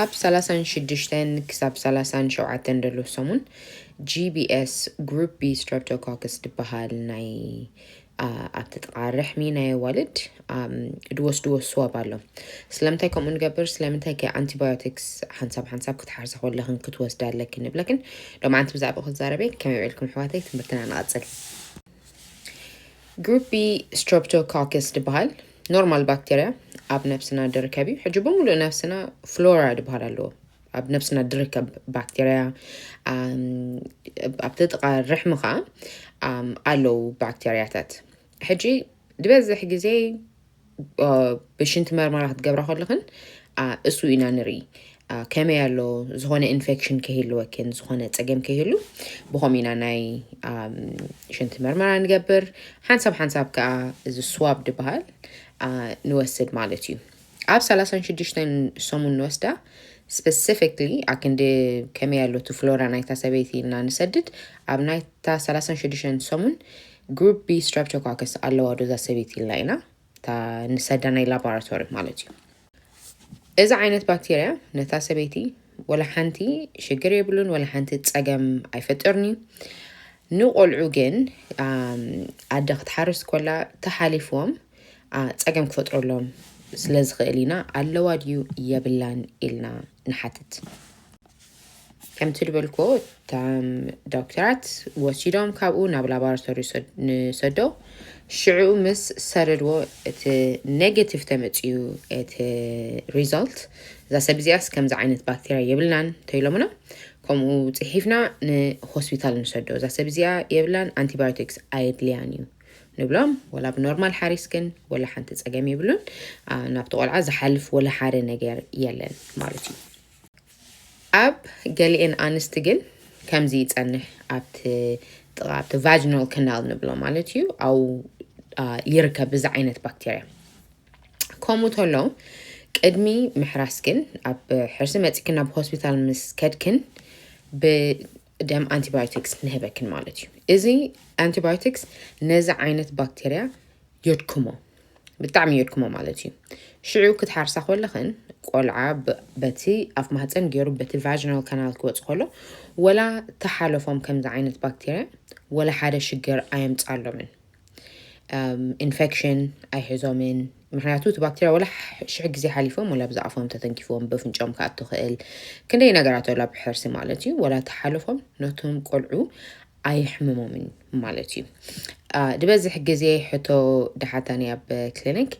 ኣብ ሰላሳን ሽዱሽተን ክሳብ ሰላሳን ሸውዓተን ደሎ ሰሙን GBS ግሩፕ ቢ ስትረፕቶኮክስ ድበሃል ናይ ኣብቲ ጥቓ ርሕሚ ናይ ኣዋልድ ድወስድዎ ስዋብ ኣሎ ስለምንታይ ከምኡ ንገብር ስለምንታይ ከ ኣንቲባዮቲክስ ሓንሳብ ሓንሳብ ክትሓርሰ ከለኽን ክትወስዳ ኣለክን ንብለክን ሎማዓንቲ ብዛዕባ ክዛረበ ከመይ ውዒልኩም ኣሕዋተይ ትምህርትና ንቐፅል ግሩፒ ስትረፕቶኮክስ ድበሃል ኖርማል ባክቴርያ ኣብ ነብስና ድርከብ እዩ ሕጂ ብምሉእ ነብስና ፍሎራ ድበሃል ኣለዎ ኣብ ነብስና ድርከብ ባክቴርያ ኣብቲ ጥቃ ርሕሚ ከዓ ኣለው ባክቴርያታት ሕጂ ዝበዝሕ ግዜ ብሽንቲ መርመራ ክትገብራ ከለኽን እሱ ኢና ንርኢ ከመይ ኣሎ ዝኾነ ኢንፌክሽን ከይህልወክን ዝኾነ ፀገም ከይህሉ ብኸምኡ ኢና ናይ ሽንቲ መርመራ ንገብር ሓንሳብ ሓንሳብ ከዓ እዚ ስዋብ ድበሃል ንወስድ ማለት እዩ ኣብ 36 ሰሙን ንወስዳ ስፔሲፊክሊ ኣክንዲ ከመይ ኣሎ እቲ ፍሎራ ናይታ ሰበይቲ እና ንሰድድ ኣብ ናይታ 36 ሰሙን ግሩፕ ቢ ስትራፕቶኮክስ ኣለዋ ዶ እዛ ሰበይቲ ኢልና ኢና እታ ንሰዳ ናይ ላቦራቶሪ ማለት እዩ እዚ ዓይነት ባክቴርያ ነታ ሰበይቲ ወላ ሓንቲ ሽግር የብሉን ወላ ሓንቲ ፀገም ኣይፈጥርን እዩ ንቆልዑ ግን ኣደ ክትሓርስ ኮላ ተሓሊፍዎም ፀገም ክፈጥረሎም ስለ ዝኽእል ኢና ኣለዋ ድዩ የብላን ኢልና ንሓትት ከምቲ ዝበልክዎ እቶም ዶክተራት ወሲዶም ካብኡ ናብ ላቦራቶሪ ንሰዶ ሽዑ ምስ ሰደድዎ እቲ ኔጌቲቭ ተመፅዩ እቲ ሪዛልት እዛ ሰብ እዚኣስ ከምዚ ዓይነት ባክቴርያ የብልናን ተኢሎምና ከምኡ ፅሒፍና ንሆስፒታል ንሰዶ እዛ ሰብ እዚኣ የብላን ኣንቲባዮቲክስ ኣየድልያን እዩ ንብሎም ወላ ብኖርማል ሓሪስ ግን ወላ ሓንቲ ፀገም የብሉን ናብቲ ቆልዓ ዝሓልፍ ወላ ሓደ ነገር የለን ማለት እዩ ኣብ ገሊኤን ኣንስቲ ግን ከምዚ ይጸንሕ፣ ኣብቲ ጥቓ ኣብቲ ቫጅናል ክናል ንብሎ ማለት እዩ ኣው ይርከብ እዚ ዓይነት ባክቴርያ ከምኡ ተሎ ቅድሚ ምሕራስ ግን ኣብ ሕርሲ መጺክን ናብ ሆስፒታል ምስ ከድክን ደም ኣንቲባዮቲክስ ንህበክን ማለት እዩ እዚ ኣንቲባዮቲክስ ነዚ ዓይነት ባክቴርያ የድክሞ ብጣዕሚ የድክሞ ማለት እዩ ሽዑ ክትሓርሳ ኮለኽን ቆልዓ በቲ ኣፍ ማህፀን ገይሩ በቲ ቫጅናል ካናል ክወፅ ከሎ ወላ ተሓለፎም ከምዚ ዓይነት ባክቴርያ ወላ ሓደ ሽግር ኣየምፃሎምን ኢንፌክሽን ኣይሕዞምን ምክንያቱ እቲ ባክቴርያ ወላ ሽሕ ግዜ ሓሊፎም ወላ ብዛ ኣፎም ተተንኪፎም በፍንጮም ክኣቱ ክእል ክንደይ ነገራት ወላ ብሕርሲ ማለት እዩ ወላ ተሓልፎም ነቶም ቆልዑ ኣይሕምሞምን ማለት እዩ ዝበዝሕ ግዜ ሕቶ ድሓታኒ ኣብ ክሊኒክ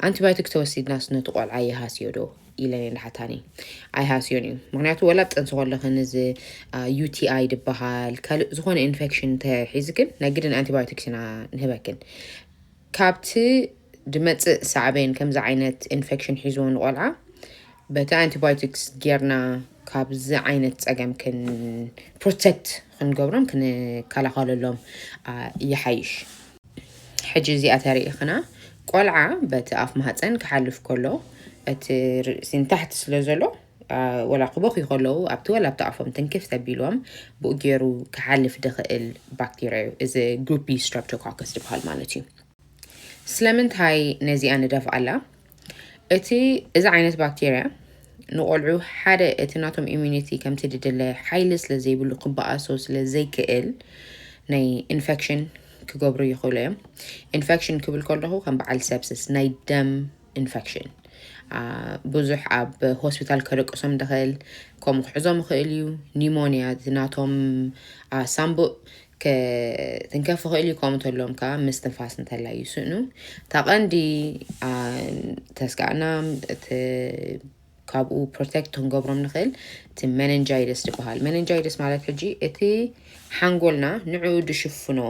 ኣንቲባዮቲክ ተወሲድናስ ነቲ ቆልዓ ይሃስዮ ዶ ኢለን እየን ድሓታኒ ኣይሃስዮን እዩ ምክንያቱ ወላ ኣብ ጥንሲ ከለክን እዚ ዩቲኣይ ድበሃል ካልእ ዝኾነ ኢንፌክሽን ተሒዝክን ናይ ግድን ኣንቲባዮቲክስ ኢና ንህበክን ካብቲ ድመፅእ ሳዕቤን ከምዚ ዓይነት ኢንፌክሽን ሒዝዎ ንቆልዓ በቲ ኣንቲባዮቲክስ ጌርና ካብዚ ዓይነት ፀገም ክን ፕሮቴክት ክንገብሮም ክንከላኸለሎም ይሓይሽ ሕጂ እዚኣ ተሪኢኽና ቆልዓ በቲ ኣፍ ማህፀን ክሓልፍ ከሎ እቲ ርእሲ ንታሕቲ ስለ ዘሎ ወላ ክበኽዩ ከለዉ ኣብቲ ወላ ኣብቲ ኣፎም ትንክፍ ተቢሎም ብኡ ገይሩ ክሓልፍ ድኽእል ባክቴርያ እዩ እዚ ግሩፕ ቢ ስትረፕቶኮከስ ዝበሃል ማለት እዩ ስለምንታይ ነዚኣ ንደፍኣላ እቲ እዚ ዓይነት ባክቴርያ ንቆልዑ ሓደ እቲ ናቶም ኢሚኒቲ ከምቲ ድድለ ሓይሊ ስለ ዘይብሉ ክበኣሶ ስለ ዘይክእል ናይ ኢንፌክሽን ክገብሩ ይኽእሉ እዮም ኢንፌክሽን ክብል ከለኹ ከም በዓል ሰብስስ ናይ ደም ኢንፌክሽን ብዙሕ ኣብ ሆስፒታል ከደቅሶም ድኽእል ከምኡ ክሕዞም ይኽእል እዩ ኒሞንያ ናቶም ሳምቡእ ክትንከፍ ይኽእል እዩ ከምኡ ተሎም ከዓ ምስትንፋስ እንተላይ ይስእኑ እታ ቀንዲ ተስጋእና ካብኡ ፕሮቴክት ክንገብሮም ንኽእል እቲ መነንጃይደስ ዝበሃል መነንጃይደስ ማለት ሕጂ እቲ ሓንጎልና ንዕኡ ድሽፍኖ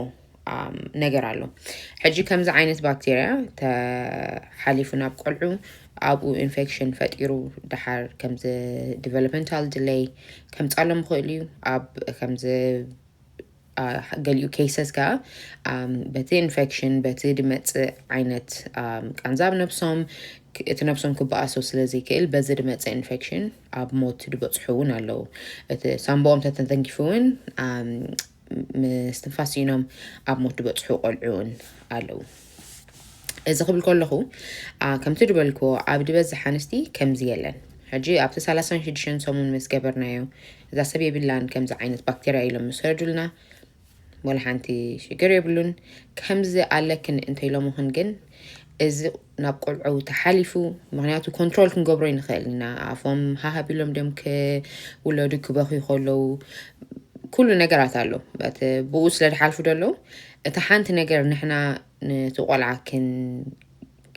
ነገር ኣሎ ሕጂ ከምዚ ዓይነት ባክቴርያ ተሓሊፉ ናብ ቆልዑ ኣብኡ ኢንፌክሽን ፈጢሩ ድሓር ከምዚ ዲቨሎፕመንታል ድለይ ከምፃሎም ይኽእል እዩ ኣብ ከምዚ ገሊኡ ኬሰስ ከዓ በቲ ኢንፌክሽን በቲ ድመፅእ ዓይነት ቃንዛ ኣብ ነብሶም እቲ ነብሶም ክበኣሶ ስለ ዘይክእል በዚ ድመፀ ኢንፌክሽን ኣብ ሞት ድበፅሑ እውን ኣለዉ እቲ ሳምቦኦም ተተተንኪፉ እውን ምስትንፋስ ስኢኖም ኣብ ሞት ድበፅሑ ቆልዑ እውን ኣለዉ እዚ ክብል ከለኹ ከምቲ ዝበልክዎ ኣብ ዝበዝሕ ኣንስቲ ከምዚ የለን ሕጂ ኣብቲ ሰላሳን ሽዱሽተን ሰሙን ምስ ገበርናዮ እዛ ሰብ የብላን ከምዚ ዓይነት ባክቴርያ ኢሎም ምስ ሰዱልና ወላ ሓንቲ ሽግር የብሉን ከምዚ ኣለክን እንተኢሎምኽን ግን እዚ ናብ ቆልዑ ተሓሊፉ ምክንያቱ ኮንትሮል ክንገብሮ ይንኽእል ኢና ኣፎም ሃሃቢሎም ድም ክውለዱ ክበኽዩ ከለዉ ኩሉ ነገራት ኣሎ በት ብኡ ስለ ዝሓልፉ ደለዉ እታ ሓንቲ ነገር ንሕና ነቲ ቆልዓ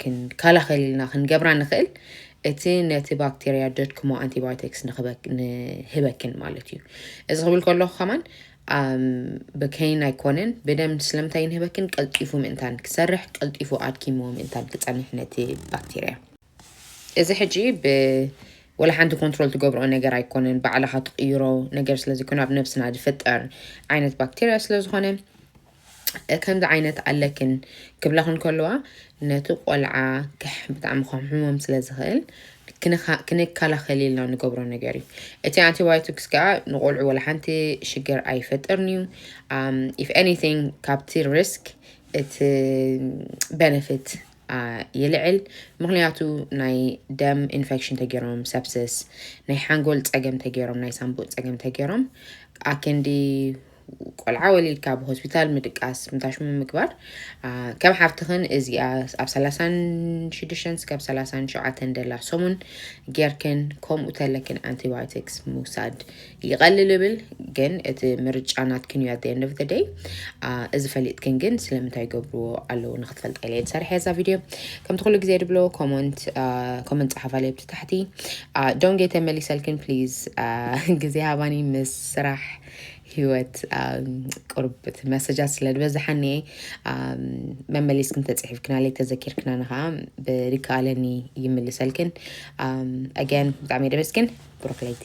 ክንከላኸል ኢልና ክንገብራ ንኽእል እቲ ነቲ ባክቴርያ ደድክሞ ኣንቲባዮቲክስ ንህበክን ማለት እዩ እዚ ክብል ከለኹ ከማን ብከይን ኣይኮነን ብደም ስለምንታይ ንህበክን ቀልጢፉ ምእንታን ክሰርሕ ቀልጢፉ ኣድኪምዎ ምእንታን ክፀንሕ ነቲ ባክቴርያ እዚ ሕጂ ብ ወላ ሓንቲ ኮንትሮል ትገብሮ ነገር ኣይኮነን ባዕልኻ ትቕይሮ ነገር ስለ ዘይኮነ ኣብ ነብስና ዝፍጠር ዓይነት ባክቴርያ ስለ ዝኾነ ከምዚ ዓይነት ኣለክን ክብላኽን ከለዋ ነቲ ቆልዓ ብጣዕሚ ከምሕሞም ስለ ዝኽእል ክንከላኸል ኢልና ንገብሮ ነገር እዩ እቲ ኣንቲባዮቲክስ ከዓ ንቆልዑ ወላ ሓንቲ ሽግር ኣይፈጥርን እዩ ኢፍ ኤኒቲንግ ካብቲ ሪስክ እቲ ቤነፊት ይልዕል ምክንያቱ ናይ ደም ኢንፌክሽን ተገይሮም ሰፕስስ ናይ ሓንጎል ፀገም ተገይሮም ናይ ሳምቡእ ፀገም ተገይሮም ኣክንዲ ቆልዓ ወሊድካ ኣብ ሆስፒታል ምድቃስ ምታሽሙ ምግባር ከም ሓፍትኽን እዚኣ ኣብ 36 ስከብ 37 ደላ ሰሙን ጌርክን ከምኡ ተለክን ኣንቲባዮቲክስ ምውሳድ ይቐልል እብል ግን እቲ ምርጫ ናትክን እዩ ኣደ ንደፍ ደይ እዚ ፈሊጥክን ግን ስለምንታይ ይገብርዎ ኣለዉ ንክትፈልጠ ኢለ ዝሰርሐ እዛ ቪድዮ ከምቲ ኩሉ ግዜ ድብሎ ኮመንት ኮመንት ፀሓፍ ኣለ ብቲ ታሕቲ ዶንጌ ተመሊሰልክን ፕሊዝ ግዜ ሃባኒ ምስ ስራሕ ህይወት ቅርብ መሰጃት ስለ ዝበዝሓኒ መመሊስክን ተፅሒፍክና ለይ ተዘኪርክና ንከዓ ብሪከኣለኒ ይምልሰልክን ኣገን ብጣዕሚ ደበስክን ብሩክ ለይቲ